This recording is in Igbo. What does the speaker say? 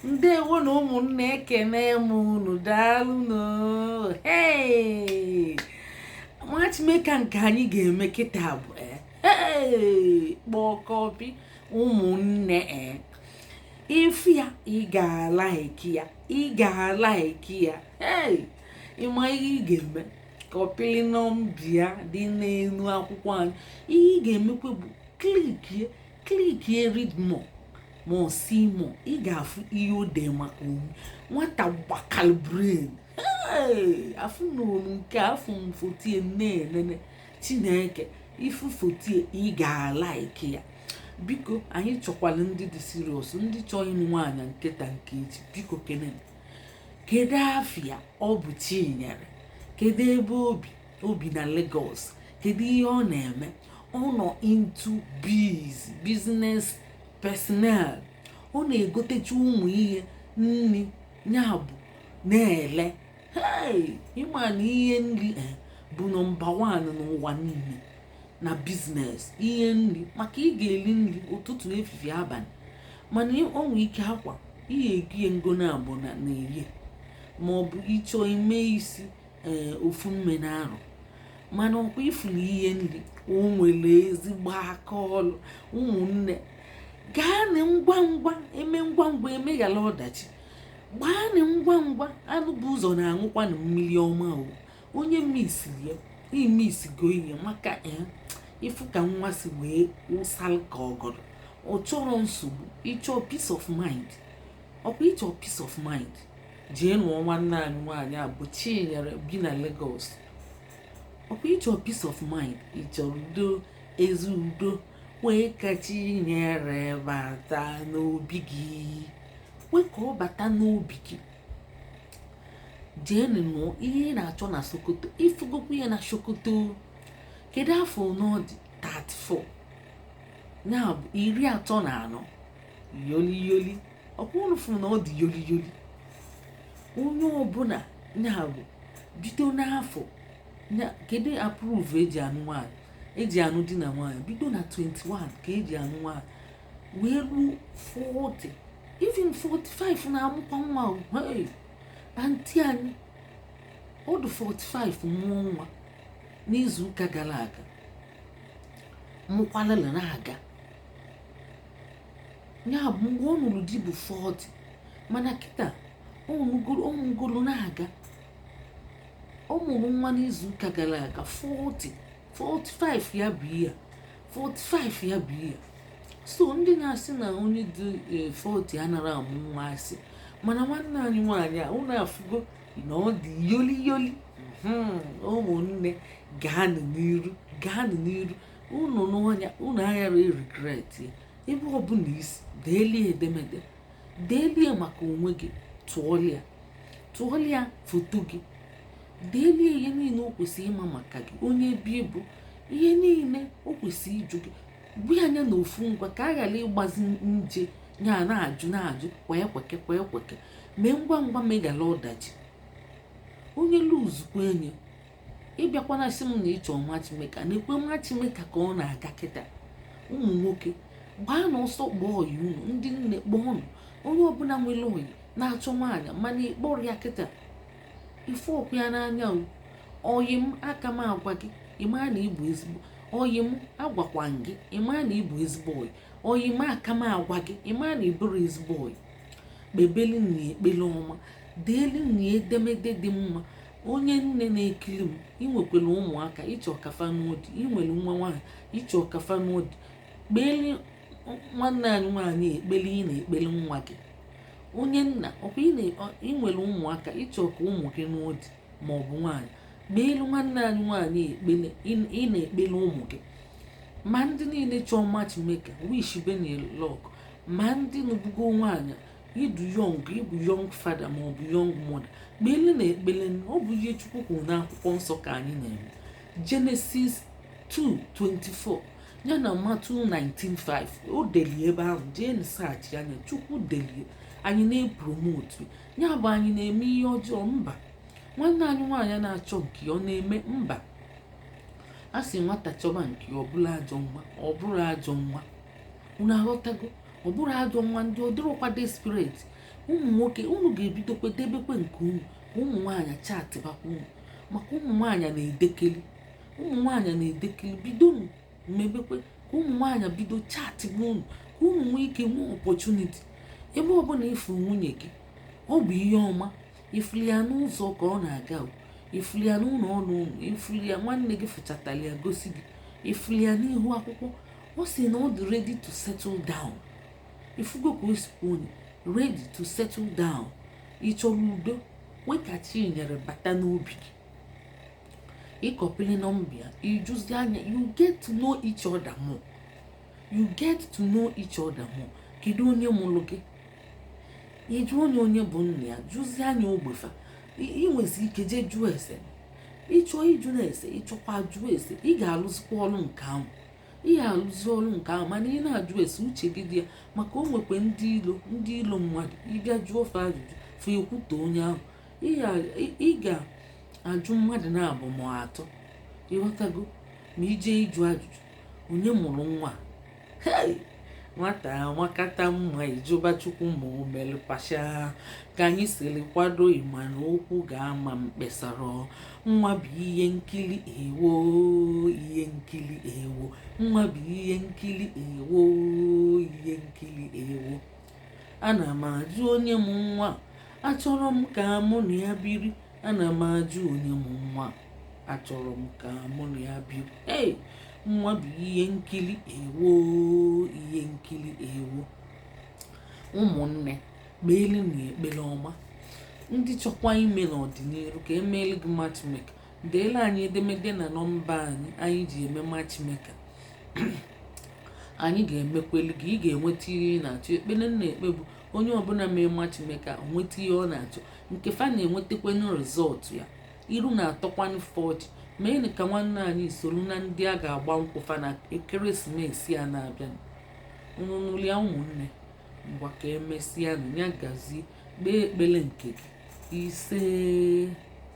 ndewo nụ ụmụnne ekene m unu daalụnụ matchmaker nke anyị ga-eme kịta bụ eh, kpọkọpi ụmụnne eh. ị fụ ya ị ga-alaiki ya ị ga-alaiki ya ị ma ihe ị ga-eme kọpịlị nọmba ya dị n'elu akwụkwọ anyị ihe ị ga-emekwa bụ klikie klikie read more ma ọ see more ị ga-afụ ihe o dee maka onwe nwata gbakal brain afụ na olu nke afụ m foto ya na-enene chineke ị fụ foto ya ị ga-alaiki ya biko anyị chọkwalụ ndị dị serious ndị chọọ ịnụ nwaanyị nke taa nke echi biko kene kedu afa ya ọ bụ Chinyere kedu ebe o bi o bi na Lagos kedu ihe ọ na-eme ọ nọ into biz business personnel ọ na-egotecha ụmụ ihe nri ya bụ na-ele ị ma na ihe nri eh, bụ nọmba wan n'ụwa niile na business ihe nri maka ị ga-eli nri ụtụtụ efifie abalị mana o nwee ike akwa ihe egie ngo na abụ na na-eri ma ọ bụ ị chọọ ime isi ee ofu mgbe n'arọ mana ọkwa ị fụrụ ihe nri o nwere ezigbo aka ọlụ ụmụnne gaanị ngwa ngwa e mee ngwa ngwa e meghara ọdachi gbaanị ngwa ngwa anụ bu ụzọ na-aṅụkwanụ mmiri ọma o onye misiri ya i misigo ihe maka ya ị fụ ka nwa si wee wụsala ka ọgọdọ ọ chọrọ nsogbu ị chọọ peace of mind ọkwa ị chọọ peace of mind jee nụọ nwanne anyị nwaanyị a bụ Chinyere bi na Lagos ọkwa ị chọọ peace of mind ị chọrọ udo ezi udo kwe ka Chinyere bata n'obi gị kwe ka ọ bata n'obi gị jee nụọ ihe ị na-achọ na Sokoto ị fụgokwu ya na Sokoto kedu afọ one ọ dị 34 ya bụ iri atọ na anọ yoli yoli ọkwa unu fụ na ọ dị yoli yoli onye ọbụla ya bụ bido n'afọ nke dị approve e ji anụ nwaanyị e ji anụ di na nwaanyị bido na 21 ka e ji anụ nwaanyị wee ruo 40 even 45 na-amụkwa nwa aunty anyị ọ dị 45 mụọ nwa n'izu ụka gara aga mụkwalala na-aga ya bụ mgbe ọ nụrụ di bụ 40 mana kịta ọ mụgoro na-aga ọ mụrụ nwa n'izu ụka gara aga 40 45 ya bụ ihe a. 45 ya bụ ihe a. so ndị na-asị na onye dị eh, 40 anara amụ nwa asị mana nwanne anyị nwaanyị a ụnụ afụgo na ọ dị yoli yoli ụmụnne gaanụ n'iru gaanụ n'iru unu nụọ ya unu aghara regret ya ebe ọbụla isi deelie edemede deelie maka onwe gị tụọlịa tụọlịa foto gị deelie ihe niile o kwesịrị ịma maka gị onye ịbụ ihe niile o kwesịrị ịjụ gị gbu anya na ofu ngwa ka a ghara ịgbazi nje ya na-ajụ na-ajụ kwa ekweke kwa ekweke mee ngwa ngwa meghala ọdachi onye luzukwa enye ịbịakwana sị m na ịchọ matchmaker na-ekwe matchmaker ka ọ na-aga kịta ụmụ nwoke gbaanụ ọsọ kpọọ ọyị unu ndị nne kpọọnụ onye ọbụla nwere ọyị na-achọ nwaanyị mana ịkpọrọ ya kịta ịfụrọkwa ya n'anya ọyị m aka m agwa gị ịma na ịbụ ezigbo ọyị m agwakwa gị ịma na ịbụ ezigbo ọyị ọyị m aka m agwa gị ịma na ịbụrụ ezigbo ọyị kpebeli na ekpele ọma deelu na edemede dị mma onye nne na-ekiri m inwekwere ụmụaka ịchọ ka fa nụọ di inwere nwa nwaanyị ịchọ ka fa nụọ di kpeelụ nwanne anyị nwaanyị ekpele ị na-ekpeli nwa gị onye nna ọkwa inwere ụmụaka ịchọ ka ụmụ gị nụọ di ma ọ bụ nwaanyị kpeelụ nwanne anyị nwaanyị ekpele ị na-ekpeli ụmụ gị ma ndị niile chọọ matchmaker wishịbenụ luck ma ndị nụbugo nwaanyị ịdị young ịbụ young father ma ọ bụ young mother kpele na ekpele ọ bụ ihe chukwu kwuru n'akwụkwọ nsọ ka anyị na-eme Genesis 2:24 ya na Matthew 19:5 o delie ebe ahụ jeenụ searchịanụ ya chukwu delie anyị na-epromotu ya bụ anyị na-eme ihe ọjọọ mba nwanne anyị nwaanyị na-achọ nke ya ọ na-eme mba a sị nwata chọba nke ya ọ bụrụ ajọ nwa ọ bụrụ ajọ nwa unu aghọtago ọ bụrụ ajọ nwa ndị ọ dịrọkwa desperate ụmụ nwoke unu ga-ebidokwa debekwe nke unu ka ụmụ nwaanyị chatịbakwa unu maka ụmụ nwaanyị na-edekeli ụmụ nwaanyị na-edekeli bido mebekwe ka ụmụ nwaanyị bido chatịba unu ka unu nwee ike nwee opportunity ebe ọbụla ịfụrụ nwunye gị ọ bụ ihe ọma ịfụlụ ya n'ụzọ ka ọ na-aga ịfụlụ ya n'ụlọ ọrụ unu ịfụlụ ya nwanne gị fụchatara ya gosi gị ịfụlụ ya n'ihu akwụkwọ ọ sị na ọ dị ready to settle down ị fụgo ka o si onye ready to settle down ị chọrọ udo nke chi nyere bata n'obi gị ịkọpili nọmba ya ị jụzie anya you get to know each other more you get to know each other more kedu onye mụrụ gị ịjụ onye onye bụ nna ya jụzie anya ogbe fa ị nwezi ike jee jụọ ese ịchọ ịjụ na ese ịchọkwa jụọ ese ị ga-alụzikwa ọrụ nke ahụ ị ya-alụzi ọrụ nke ahụ mana ị na-ajụ ese uche gị dị ya maka o nwekwa ndị ilo ndị ilo mmadụ ị bịa jụọ fa ajụjụ fa ekwutọ onye ahụ ị ga-ajụ mmadụ naabọ ma atọ ịghọtago ma i je ịjụ ajụjụ onye mụrụ nwa nwata makata mma ị jụba chukwu ma o mere pasha ka anyị siri kwado ịma na okwu ga-ama mkpesara nwa bụ ihe nkiri ewo ihe nkiri ewo nwa bụ ihe nkiri ewo ihe nkiri ewo ana m ajụ onye mụ nwa achọrọ m ka mụ na ya biri ana m ajụ onye mụ nwa achọrọ m ka mụ na ya bi ei nwa bụ ihe nkiri ewo ihe nkiri ewo ụmụnne kpeelụnụ ya ekpere ọma ndị chọkwa ime n'ọdịnihu ka e meelụ gị matchmake deela anyị edemede na nọmba anyị anyị ji eme matchmake anyị ga-emekweli gị ị ga-enweta ihe ị na-achọ ekpere m na-ekpe bụ onye ọbụla mee matchmake ka o nweta ihe ọ na-achọ nke fa na-enwetakwanụ rizọtụ ya iru na-atọkwanụ fa ọchị meenụ ka nwanne anyị soro na ndị a ga-agba nkwụ fa na ekeresimesi a na-abịa unu ṅụlịa ụmụnne ngwa ka emesịanụ ya gazie kpee ekpere nke gị ise